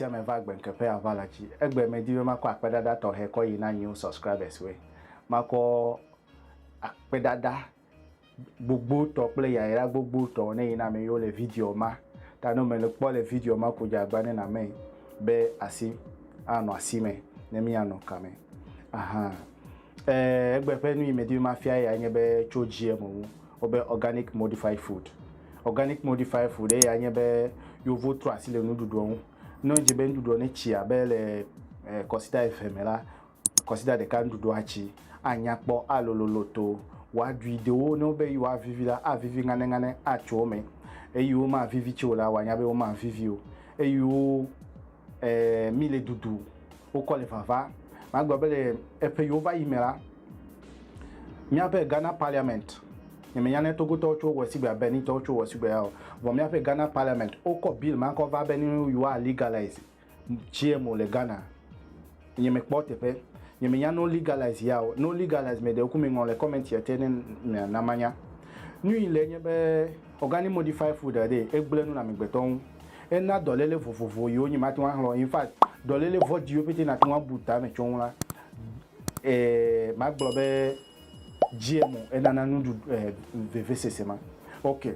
ame va gbe ŋkeƒe ava la dzi. Egbe medi be makɔ akpedada tɔxɛ kɔ yi na new subscribers we. Makɔ akpedada gbogbotɔ kple yayra gbogbotɔ ne yi na me yo le video ma ta no me le kpɔ le video ma ko dza gba ne na me be asi a no asi me ne mi a no kame aha eh egbe pe nu yi me di ma fia ya nye be cho GM wu o be organic modified food organic modified food e ya nye be yo vo tro asi le nu ɖuɖu ŋu no je be nu ɖuɖu ne tsia be le eh, kɔsita eve me la Kɔsida ɖeka nuɖuɖua tsi anya kpɔ alolo loto, wòaɖui dewo ne wobe yewoavivi la avivi ŋanɛŋanɛ atso wo me. Eyiwo mavivi tsi o la, wòanya be womavivi o. Eyiwo e mi le dudu wokɔ le vava. Magblɔ be le eƒe yiwo va yi me la, míaƒe Ghana Parliament, nye menya ne Togotɔwo tso wɔ sigbea, Benin tɔwo tso wɔ sigbea o, vɔ míaƒe Ghana Parliament wokɔ bill ma kɔ va be ne yewoa legalise GMO le Ghana, nye me kpɔ teƒe, nye me nya no legalize ya o, no legalize me ɖewo ku me ŋlɔ le comment ya te ne mia na manya. Nui le nye be organic modify food ɖe egble nu le amegbetɔ ŋu, ena dɔlele vovovo yiwo nye mate ŋu axlɔ, in fact dɔlele vɔdiwo pete nate ŋu abu ta me tso ŋu la, eh, ma gblɔ be. Dziemo enana nuɖuɖu eh vevesese ma ok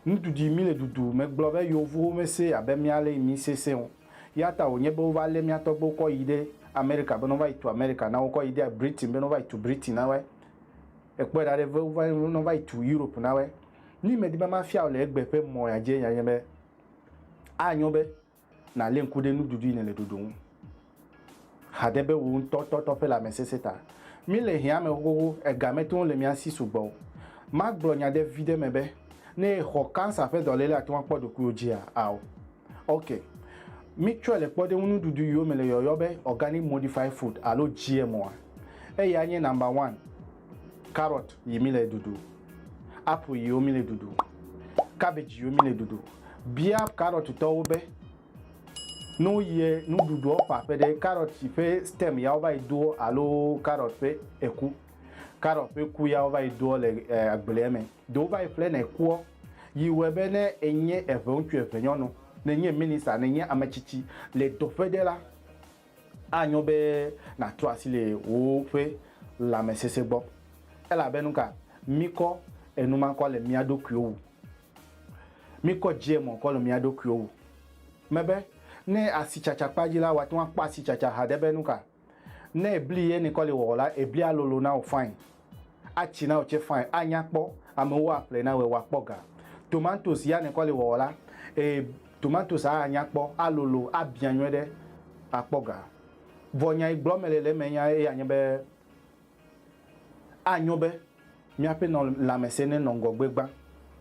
nuɖuɖui mi le ɖuɖu me gblɔ be yovuwo me se abe mia le mi se se o yata wonye be wova le mia tɔgbewo kɔ yi ɖe America bene wova yi tu America nawo kɔ yi ɖe Britain bene wova yi tu Britain nawoe ekpɔe ɖa ɖe vewova yi wova yi tu Europe nawoe nyi me di be ma fiawo le egbe ƒe mɔ ya dzi enye be anyo be Nalé ŋku ɖe nuɖuɖu yi nèle ɖoɖo ŋu hade be wò ŋutɔ tɔtɔ ƒe lãmesesẽ ta. Míle hiã me xoxoxo, ega mete ŋu le mía si sugbɔ o. Magblɔ nya ɖe viɖe me be, ne èxɔ kansa ƒe dɔléle ate ŋu akpɔ ɖokuiwò dzia? Ao. Ok. Mítsɔe le kpɔɖeŋu nuɖuɖu yiwo me le yɔyɔ be organic modified food alo GMO-a. Eyae nye number one Carrot yi mi le ɖuɖu. Apple yi wo mi le ɖuɖu. Cabbage yi wo mi le ɖuɖu. Bia carrot tɔwo be, no yɛ nuɖuɖuɔ ƒa ƒe ɖe carrot si ƒe stem yawo va yi doɔ alo carrot ƒe eku. Carrot ƒe ku yawo va yi doɔ le agblea me. Ɖewo va yi ƒle na ekuɔ. Yi wɔɛ be ne enye eŋeŋutsu eŋenyɔnu, ne enye minista, ne enye ametsitsi le dɔƒe ɖe la, Anyo be nàtrɔ asi le woƒe lãmesesẽ gbɔ, elabe nuka míkɔ enumakɔ le mía ɖokuiwo wu? Míkɔ dze mɔ kɔ le mía ɖokuiwo wu. Mebe, ne asitsatsa kpa dzi la, wòate ŋu akpɔ asitsatsa haɖe be nuka ne bli ye nèkɔ le wɔwɔ la, eblia lolo na wò fain. Atsi na wò tsɛ fine, anya kpɔ, amewo aƒlɛ na wòe wòakpɔ ga. Tomatosi ya nèkɔ le wɔwɔ la, ee, tomatosia anya kpɔ, alolo, abiã nyuiɖe, akpɔ ga. Vɔ nya yi gblɔm mele le eme yae nye be, anyo be míaƒe lãmesẽ nenɔ ŋgɔgbe gbã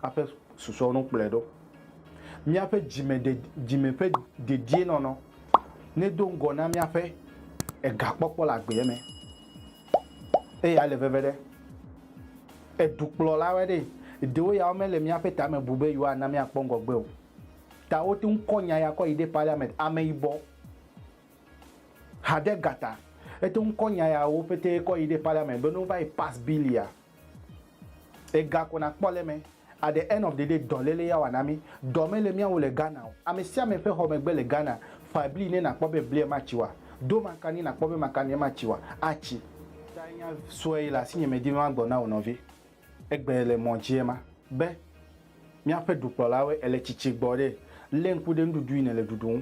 hafi susɔewo no kplɔe ɖo. Míaƒe dzime ƒe dedienɔnɔ nedo ŋgɔ na míaƒe egakpɔkpɔ le agbe me. Eya le veve ɖe. Edukplɔlawoe ɖee. Ɖewo ya womele míaƒe tame bu be yewoana míakpɔ ŋgɔgbe o. Ta wote ŋu kɔ nya ya kɔ yi ɖe parliament, ameyibɔ, hadegata. Ete ŋu kɔ nya yawo ƒetee kɔ yi ɖe parliament be ne wova yi pass bill ya. Ega ko na kpɔ le eme. At the end of the day dɔ lele ya wana mi. Dɔ me le miawo le Ghana o. Ame sia ame ƒe xɔme gbe le Ghana. Fa bli ne na kpɔ be blia ma tsi wa. Do makani na kpɔ be makania ma tsi wa. A tsi. Taa nya sue yi le asinye me di be ma gblɔ na wò nɔvi. Egbe le mɔ dzi ema. Be, Miaƒe dukplɔlawoe ele tsitsi gbɔ ɖe. Le ŋku ɖe nuɖuɖu yi ne le ɖuɖu ŋu.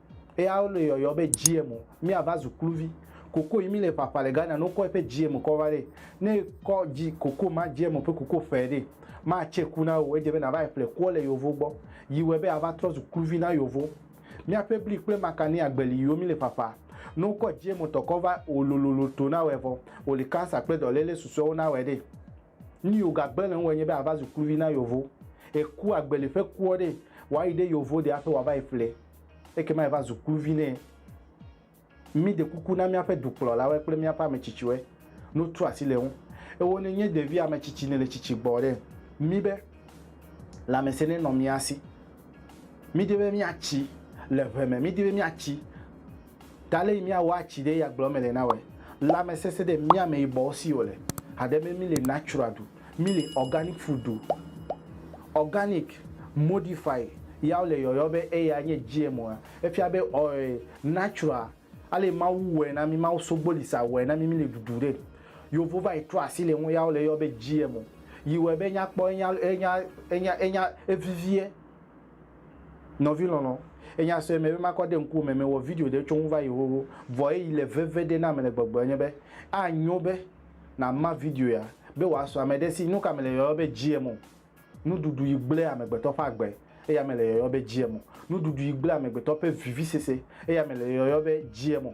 Eya wole yɔyɔ be GM o. Mi ava zu kluvi. Koko yi mi le ƒaƒa le Ghana no kɔ eƒe GM kɔ va ɖe. Ne kɔ G, koko ma GM ƒe koko ƒɛ ɖe, ma tse ku na eo. Edze be nava yi ƒle koɔ le yovo gbɔ. Yi wɔe be ava trɔ zu kluvi na yovo. Miaƒe bli kple makani agbe li yiwo mi le ƒaƒa. Ne wo kɔ GM tɔ kɔ va o lololo to na wɔe vɔ o li cancer kple dɔlele susuewo na wɔe ɖe. Nu yi wògagbe le ŋuwòe nye be àva zu kluvi na Yovo. Èku agbeli ƒe kuɔ ɖee, wòayi ɖe Yovo ɖe hafi wòava yi ƒlee. Ekema èva zu kluvi nɛ. Míɖe kuku na míaƒe dukplɔlawoe kple míaƒe ame tsitsiwoe. No tu asi le ŋu. Ewò nènye ɖevi ame tsitsi nèle tsitsi gbɔ ɖe mí be lãmesẽ nenɔ mía si. Mídi be míatsi le ʋe me, mídi be míatsi. Ɖale yi mia wɔa ci ɖe ya gblɔ mele na wɛ. Lamesese ɖe mia me yi bɔwo si wole. Haɖe me mi le natural ɖu. Mi le organic food ɖu. Organic, modify ya wole yɔyɔ be eya nye GMO a. Efia be ɔe natural ale Mawu wɔe na mi, Mawu sogboli sa wɔe na mi mi le ɖuɖu ɖe. Yovo va yi trɔ asi le ŋu ya wole yɔ be GMO. Yi wɔe be nya kpɔ enya enya enya enya eviviɛ. Nɔvi lɔlɔ, enya sɔe me be makɔ de ŋkuwò me mewɔ video ɖe tso ŋu va yi xoxo, vɔ eyi le veve ɖe nam le gbɔgblɔ nye be, anyo be nàma video ya be wòasɔ ame ɖe si. Nuka mele yɔyɔ be GMO? Nuɖuɖu yi gblẽ amegbetɔ ƒe agbe, eya mele yɔyɔ be GMO. Nuɖuɖu yi gblẽ amegbetɔ ƒe vivisese, eya mele yɔyɔ be GMO.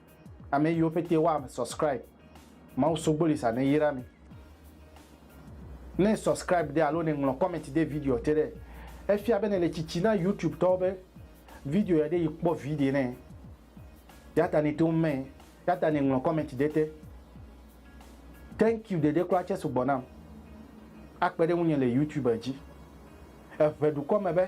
Ame yiwo pete wa ame subscribe mawu sogboli sa ne yra mi. Ne subscribe de alo ne ŋlɔ comment de video te ɖe efia be ne le tsitsi na YouTube tɔwo be video ya ɖe yi kpɔ vi ɖe ne yata ne to me yata ne ŋlɔ comment de te. Thank you ɖeɖe kura tse sugbɔ nam akpe ɖe ŋunye le YouTube dzi. Eʋe dukɔ me be.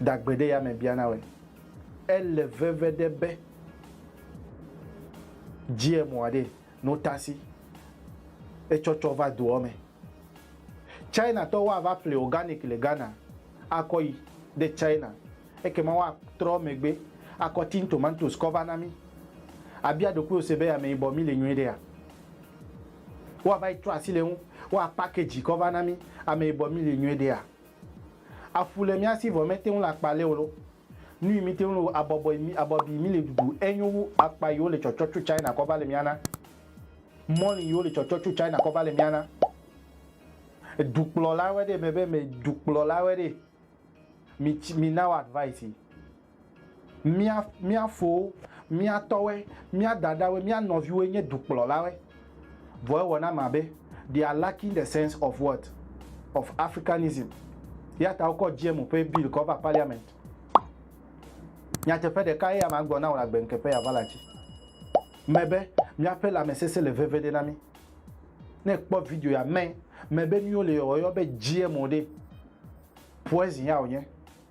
Dagbeɖeyame biana be, Ele veve ɖe be GMO aɖee no tasi etsɔtsɔ va doɔ me. China tɔwo ava ƒle organic le Ghana akɔ yi ɖe China ekema woa trɔ megbe akɔ tin tomatoes kɔ va na mí. Abia ɖokuiwò se be ameyibɔ mí le nyuiɖea? Woava yi trɔ asi le eŋu, woa package kɔ va na mí. Ame yibɔ mí li nyuiɖe a? Afu le mía si vɔ mete ŋu le akpa le o lo. Nu yi mí te ŋu le o abɔbɔe mí abɔbi mí le ɖuɖu enyo wu akpa yi wo le tsɔtsɔ tso China kɔ va le mía na. Mɔli yi wo le tsɔtsɔ tso China kɔ va le mía na. Dukplɔla wɛ ɖe me be me dukplɔla wɛ ɖe mi ci mi na wo advice yi. Mía, mía fowo, mía tɔwoe, mía dadawoe, mía nɔviwoe nye dukplɔlawoe. Vɔ ewɔ nam abe they are lacking the sense of what? Of Africanism. Eyata wokɔ GMO ƒe bill kɔ va parliament. Nyateƒe ɖeka ye ama gblɔ na wò le agbeŋke ƒe yava la dzi me be míaƒe lãmesesẽ le veve ɖe na mí. Ne èkpɔ video ya, me, me be nuyiwo le yɔyɔ be GMO ɖe, poison ya wònye.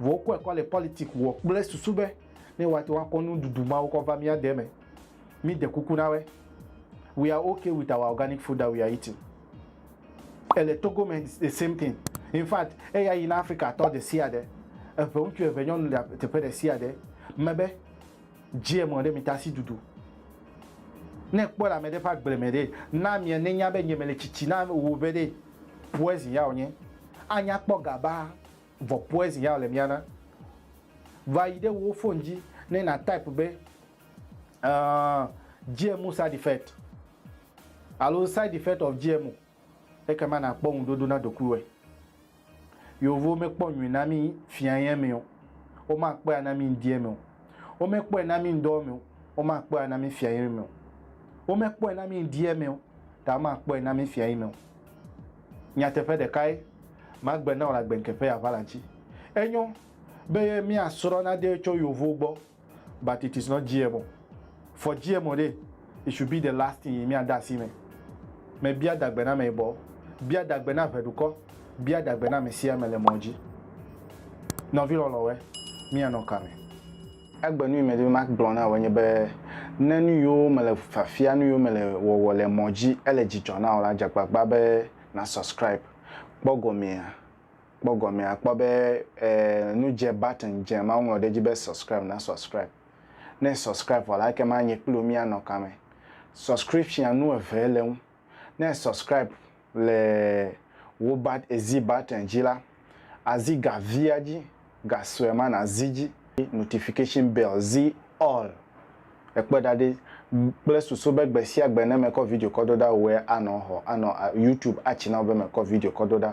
Vɔ wokɔe kɔ le politiki wɔ kple susu be ne woate ŋu akɔ nuɖuɖu mawo kɔ va mía de me. Míde kuku na woe. We are okay with our organic food that we are eating. Ele Togo me it's the same thing. In fact, eya yi na Afrikatɔ ɖesiaɖe, eve ŋutsu eve nyɔnu le teƒe ɖesiaɖe me be, GMO ɖe mi tasi ɖuɖu. Ne ekpɔe le ame ɖe ƒe agble me ɖe, na amea nenya be nye mele tsitsi na wò be ɖe poison ya wònye. Anya kpɔ gabaa. Vɔ poezi ya wòle mía na. Va yi ɖe wò fon dzi ne na type be GMO side effect alo side effect of GMO ekema na kpɔ ŋuɖoɖo na ɖokuiwɔe. Yeovowo me kpɔ nyui na mi fia yɛ me o, wo ma kpɔe ana mi ŋdiɛ me o. Wo me kpɔe na mi ŋdɔ me o, wo ma kpɔe ana mi fia yɛ me o. Wo me kpɔe na mi ŋdiɛ me o, ta wo ma kpɔe na mi fia yi me o. Nyateƒe ɖekae magbe na wò le agbenke ƒe aʋala ŋuti. Enyo be mía srɔ̃ nade tso yovo gbɔ but it is not GMO. For GMO ɖe, it should be the last thing yi mía de asi me. Me bia dagbe na ameyibɔ, bia dagbe na ʋeɖukɔ, bia dagbe na amesiame le mɔ dzi. Nɔvi lɔlɔ̃we, mía nɔ kame? Egbe nu yi medi be magblɔ na wò enye be, ne nu yiwo mele fiafia, nu yiwo mele wɔwɔ le mɔ dzi ele dzidzɔ na wò la, dze agbagba be na subscribe. Kpɔ gɔmea, kpɔ gɔmea, àkpɔ be e nu dze button dze ma woŋlɔ ɖe edzi be subscribe na subscribe. Ne e subscribe vɔ la ekema nye kple wò míanɔ kame. Subscription nu eve le eŋu. Ne e subscribe le wò bat ezi button dzi la, azi ga via dzi, ga sue ma na zi dzi. Notification bell zi all. Ekpe ɖa ɖi kple susu be gbe sia gbe ne mekɔ video kɔ do ɖa wòe anɔ xɔ anɔ YouTube a channel be mekɔ video kɔ do ɖa.